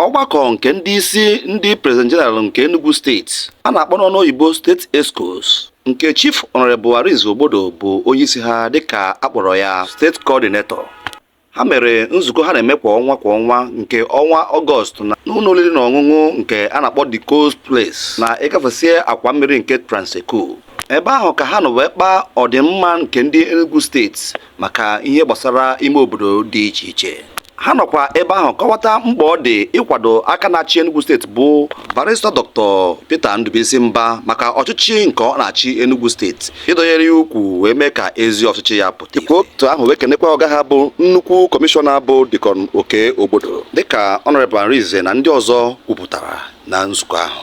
ọgbakọ nke ndị isi ndị president general nke Enugu steeti a na-akpọ n'ọnụ oyibo steeti excos nke chief honorable Arinze Ogbodo bụ onye isi ha dịka a kpọrọ ya steeti coordinator ha mere nzukọ ha na-eme kwa ọnwa kwa ọnwa nke ọnwa ọgọst na n'ụlọ oriri na ọṅụṅụ nke a na-akpọ the coast place na ịgafesie akwa mmiri nke Trans-Ekulu ebe ahụ ka ha nọ wee kpaa ọdịmma nke ndị Enugu steeti maka ihe gbasara ime obodo dị iche iche ha nọkwa ebe ahụ kọwata mkpa ọ dị ịkwado aka na-achị Enugu steeti bụ barista Dr. Peter Ndubuisi Mba maka ọchịchị nke ọ na-achị Enugu steeti ịdọnyere ya ukwu wee mee ka ezi ọchịchị ya pụta dịka otu ahụ wee kenekwa ọga ha bụ nnukwu kọmishọna bụ Deacon Okey Ogbodo dịka Honorable Arinze na ndị ọzọ kwupụtara na nzukọ ahụ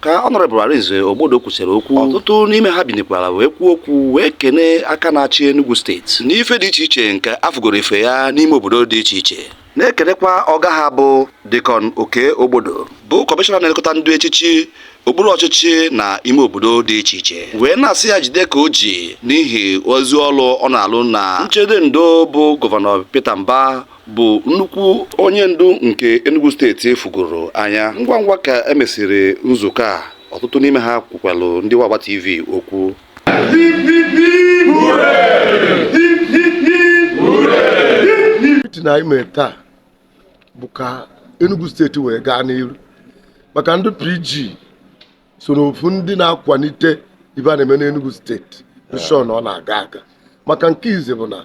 ka Honorable Arinze Ogbodo kwusịrị okwu ọtụtụ n'ime ha binikwara wee kwuo okwu wee kene aka na-achị Enugu steeti n'ife dị iche iche nke a fụgoro ife ya n'ime obodo dị iche iche na-ekenekwa ọga ha bụ Deacon Okey Ogbodo bụ kọmishọna na-elekọta ndị echichi okpuru ọchịchị na ime obodo dị iche iche wee na-asị ya jide ka o ji n'ihi ezi ọrụ ọ na-alụ na nchedo ndo bụ gọvanọ Peter Mba bụ nnukwu onye ndu nke Enugu steeti fụgoro anya ngwa ngwa ka e mesịrị nzukọ a ọtụtụ n'ime ha kwukwalụ ndị Wagba TV okwu mitin anyị mere taa bụ ka Enugu steeti wee gaa n'iru maka ndị PG so n'ofu ndị na-akwalite ife a na-eme n'Enugu steeti ensure na ọ na-aga aga maka nke ize bụ na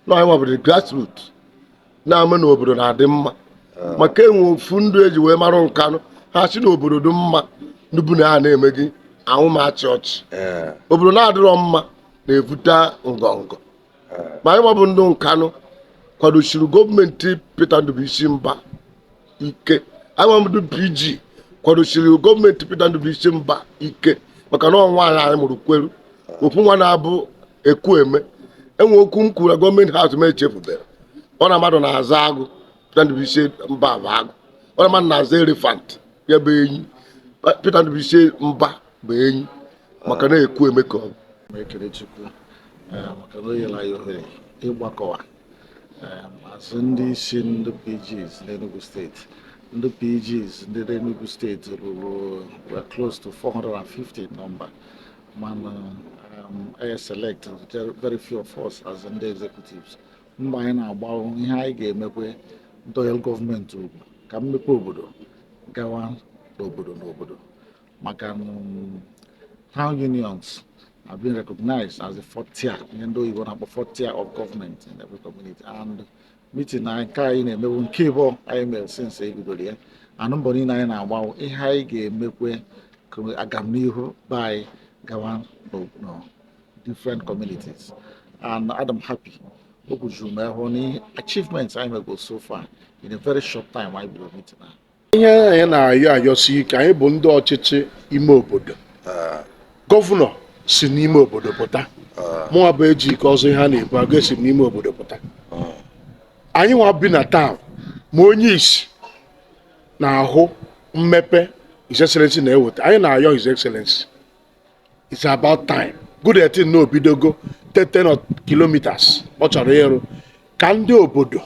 na anyị nwa bụ ndụ grassroot na-eme na obodo na-adị mma maka e nwe ofu ndụ e ji wee mara Nkanụ ha sị na obodo dị mma ndụ bu na ha na-eme gị ahụ ma achị ọchị ee obodo na-adịrọ mma na-ebute ngọngọ ma anyị nwa bụ ndụ Nkanụ kwadosiri gọọmenti Peter Ndubuisi Mba ike anyị nwa ndụ PG kwadosiri gọọmenti Peter Ndubuisi Mba ike maka na ọ nwa anyị anyị mụrụ kweru okwu nwa na-abụ ekwueme e nwe okwu m kwuru na government house m echefubere ọ na mmadụ na-aza agụ Peter Ndubuisi Mba bụ agụ ọ na mmadụ na-aza elephant ya bụ enyi Peter Ndubuisi Mba bụ enyi maka na ekwueme ka ọ bụ ekele Chukwu eh, maka na o nyere anyị ohere ịgbakọwa as ndị isi ndị PGs n'Enugu steeti ndị PGs dị n'Enugu steeti ruru were close to 450 number mana anyị select very few of us as ndị executives mgbe anyị na-akpa ihe anyị ga-eme ka e wee dọnyere gọọmenti ukwu ka mmepe obodo gawa n'obodo n'obodo maka um, town unions have been recognized as the fourth tier ihe ndị oyibo na-akpọ fourth tier of government in every community and meeting a nke anyị na-eme wụ nke ịbụọ anyị mere since e bidoro ya and mbọ niile anyị na-agba wụ ihe anyị ga-emekwe ka agamnihu be anyị gawa na different communities and adị m happy o kwujuru m ahụ na achievements anyị mego so far in a very short time anyị bidoro meeting ahụ ihe anyị na-ayọ ayọsi ike anyị bụ ndị ọchịchị ime obodo gọvanọ si n'ime obodo pụta mụnwa bụ Ejike Ọzọ ihe a na-ebu agụ esi m n'ime obodo pụta anyị nwa bi na town ma onye isi na-ahụ mmepe His Excellency na-eweta anyị na-ayọ His Excellency it's about time good a thing na o bidogo 10 kilometers ọ chọrọ ịrụ ka ndị obodo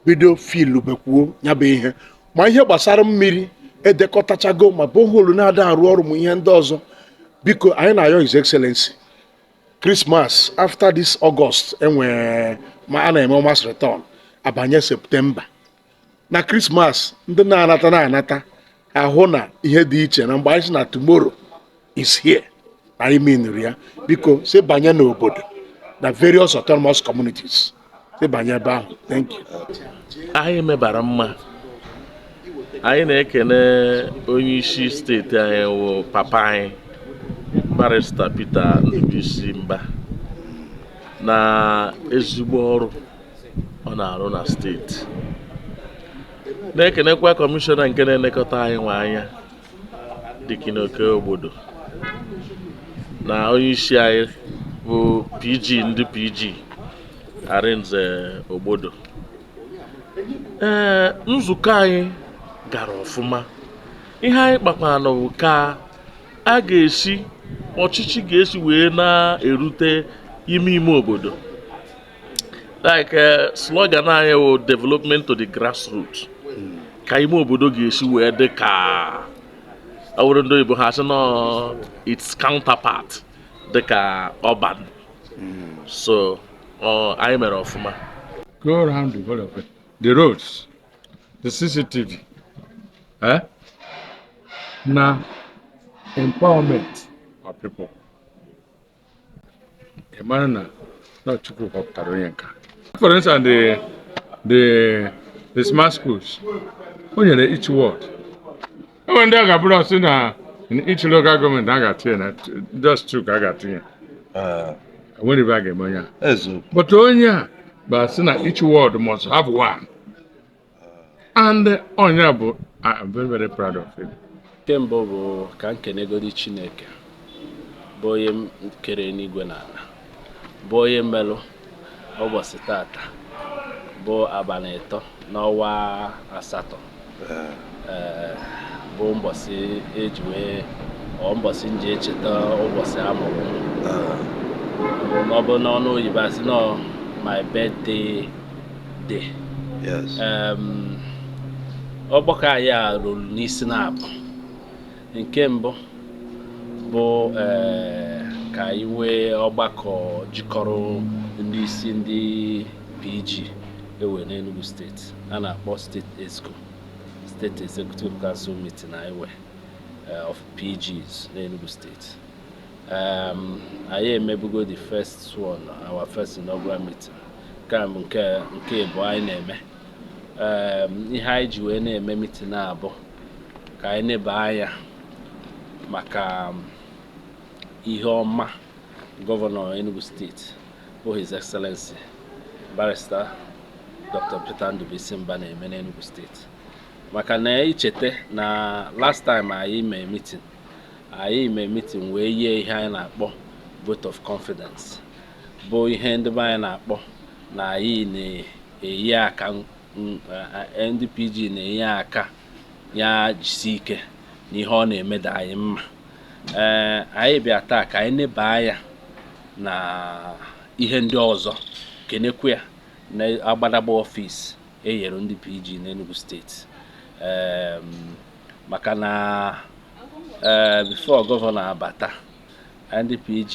bido feelubekwuo ya bụ ihe ma ihe gbasara mmiri edekọtachago ma borehole na-ada arụ ọrụ ma ihe ndị ọzọ biko anyị na-ayọ his excellency Christmas after this August enwere ma a na-eme mass return abanye septemba na krismas ndị na-anata na-anata ahụ na ihe dị iche na mgbe anyị sị na tomorrow is here na anyị meanụrụ ya biko si banye n'obodo na various autonomous communities si banye ebe ahụ thank you anyị mebara mma anyị na-ekene onye isi steeti anyị wụ papa anyị barista Peter Ndubuisi Mbah na ezigbo ọrụ ọ na-arụ na steeti na-ekenekwa kọmishọna nke na-elekọta anyịnwa anya Deacon Okey Ogbodo na onye isi anyị bụ PG ndị PG Arinze Ogbodo ee nzukọ anyị gara ọfụma ihe anyị kpakwanụ bụ ka a ga-esi ọchịchị ga-esi wee na-erute ime ime obodo like eh, slogan anyị wụ development to the grassroots ka ime obodo ga-esi wee dị ka ọ wụrụ ndị oyibo ha sị na its counterpart dị ka urban so ọ, anyị mere ọfụma go around developing the roads, the CCTV, eh? na empowerment of people. ị mara na na Chukwu họpụtara onye nke a for instance the the the smart schools o nyere each ward enwere ndị ọ ga-abụrụ ọ sị na each local gọọmenti a ga-atinye na just two ka a ga-atinye Eh, enwere ibe a ga-eme onye a eziokwu but onye a bụ a sị na each ward must have one and onye bụ I'm very very proud of him nke mbụ bụ ka m kenegodi chineke bụ onye kere enigwe na ala bụ onye melụ ụbọchị tata bụ abalị ịtọ n'ọnwa asatọ ee bụ mbọsị e ji wee or mbọsị m ji echeta ụbọchị a mụrụ m. ọ bụ n'ọnụ oyibo a sị na ọ my birthday dị ọgbakọ anyị a rụrụ n'isi naabọ nke mbụ bụ eh, ka anyị nwee ọgbakọ jikọrọ ndị isi ndị PG e nwee n'Enugu steeti a na-akpọ steeti exco steeti executive council meeting anyị nwee eh, of PGs n'Enugu steeti anyị emebugo the first one our first inaugural meeting nke a bụ nke nke ịbụọ anyị na-eme Em, ihe anyị ji wee na-eme mitin a bụ ka anyị neba anya maka um, ihe ọma gọvanọ Enugu steeti bụ His Excellency barrister Dr. Peter Ndubuisi Mbah na-eme n'Enugu steeti maka na i chete na last time anyị mee mitin anyị mee mitin wee yie ihe anyị na-akpọ vote of confidence bụ ihe ndị be anyị na-akpọ na anyị na-eyi aka m- eh, ndị PG na-eyi aka ya jisi ike na ihe ọ na-eme dị anyị mma ee anyị bịa taa ka anyị neba anya na ihe ndị ọzọ kenekwa ya na agbadagba ọfịs e nyere ndị PG n'Enugu steeti Em, maka na ee before gọvanọ abata ndị PG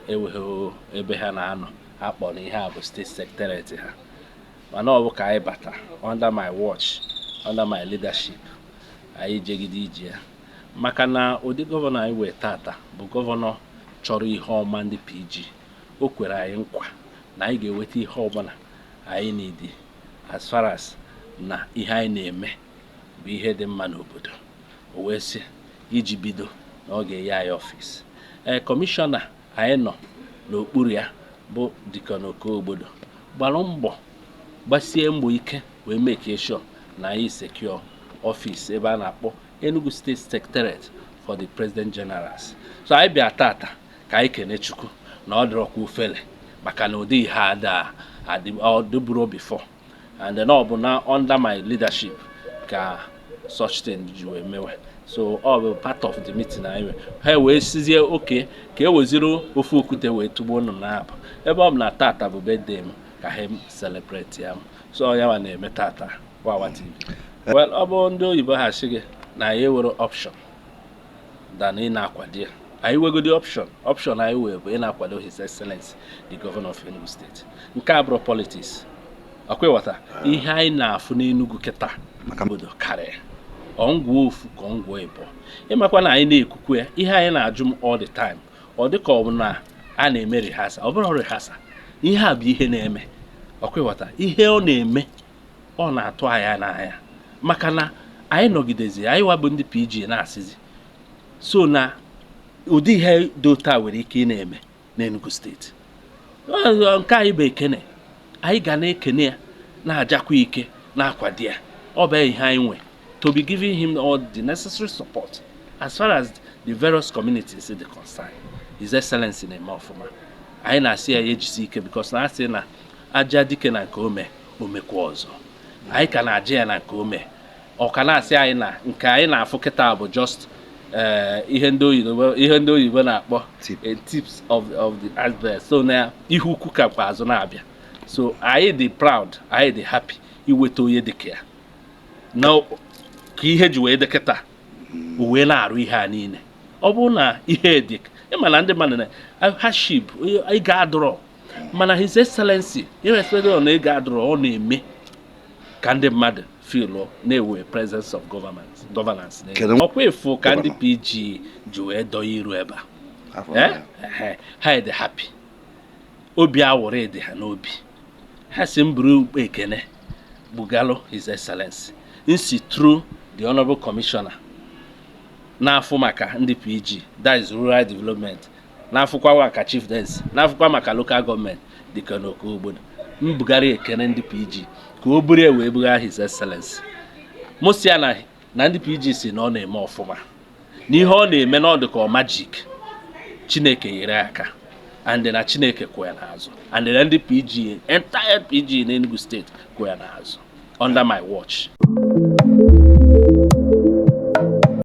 enweghị ebe ha na-anọ akpọ na ihe a bụ steeti secretariat ha mana ọ bụ ka anyị bata under my watch under my leadership anyị jegide ije ya maka na ụdị gọvanọ anyị nwee tata bụ gọvanọ chọrọ ihe ọma ndị PG o kwere anyị nkwa na anyị ga-eweta ihe ọbụla anyị needi as far as na ihe anyị na-eme bụ ihe dị mma n'obodo o wee sị iji bido na ọ ga-enye anyị ọfịs ee kọmishọna anyị nọ n'okpuru ya bụ Deacon Okey Ogbodo gbara mbọ gbasie mbọ ike wee make sure na anyị secure ọfịs ebe a na-akpọ Enugu State Secretariat for the President Generals so anyị bịa tata ka anyị kene Chukwu na ọ dịrọkwa ofele maka na ụdị ihe a adịburo before and then ọ bụ na under my leadership ka such thing ji wee mewe so ọ bụ part of the meeting anyị nwe ha wee sịzie okay ka e weziri ofu okwute wee tụgbuo nnụnụ naabọ ebe ọ bụ na tata bụ birthday m ka ha celebrate ya m so ya wa na-eme tata wawa tv well ọ bụrụ ndị oyibo ha sị gị na anyị enwerọ option than ị na-akwado ya anyị nwegodi option option anyị nwe bụ ị na-akwado his excellence the governor of Enugu state nke a abụrọ politics ọkwa ị ghọta ihe anyị na-afụ n'Enugu kịta obodo karịa ọngwụọ ofu ka ọngwụọ ịbụọ ị makwa na anyị na-ekwukwe ya ihe anyị na-ajụ m all the time ọ dịka ọ bụ na a na-eme rihasa ọ bụrọ rehearsal ihe a bụ ihe na-eme ọkwa ị ghọta ihe ọ na-eme ọ na-atụ anyị n'anya maka na anyị nọgidezi anyị wa bụ ndị PG na-asịzi so na ụdị ihe dị otu a nwere ike ị na-eme n'Enugu state nke anyị bụ ekene anyị ga na-ekene ya na-ajakwa ike na-akwado ya ọ bụ ihe anyị nwe to be giving him all the necessary support as far as the various communities dị concerned his excellency na-eme ọfụma anyị na-asị ya ya jisie ike because na a sị na a jaa dike na nke o me o mekwa ọzọ anyị ka na-aja ya na nke o me ọ ka na-asị anyị na nke anyị na-afụ kịta bụ just eh, ihe ndị oyibo ihe ndị oyibo na-akpọ Tip. eh, tips of of the iceberg so na ihe ukwu ka kwa azụ na-abịa so anyị dị proud anyị dị happy iweta onye dịka ya na ka ihe ji wee dị kịta o wee na-arụ ihe a niile ọ bụrọ na ihe dị ị ma na ndị mmadụ na hardship ego adịrọ mana his excellency irrespective na ego adịrọ ọ na-eme ka ndị mmadụ feel na e nwe presence of governance ọkwa ị fụ ka ndị pg ji wee dọọ iru ebe a ehe ha dị happy obi aṅụrị dị ha n'obi ha sị m buru ụkpa ekene bugalụ his excellency m si through the honorable commissioner na-afụ maka ndị pg that is rural development na-afụkwa maka chieftaincy na-afụkwa maka local government Deacon Okey Ogbodo m bugara ekene ndị pg ka o buru ya wee bugara his excellency mosi ya na ndị pg sị na ọ na-eme ọfụma na ihe ọ na-eme na ọ dị ka magic chineke nyere ya aka and na chineke kwụ ya n'azụ and na ndị pg entire pg n'enugu state kwụ ya n'azụ under my watch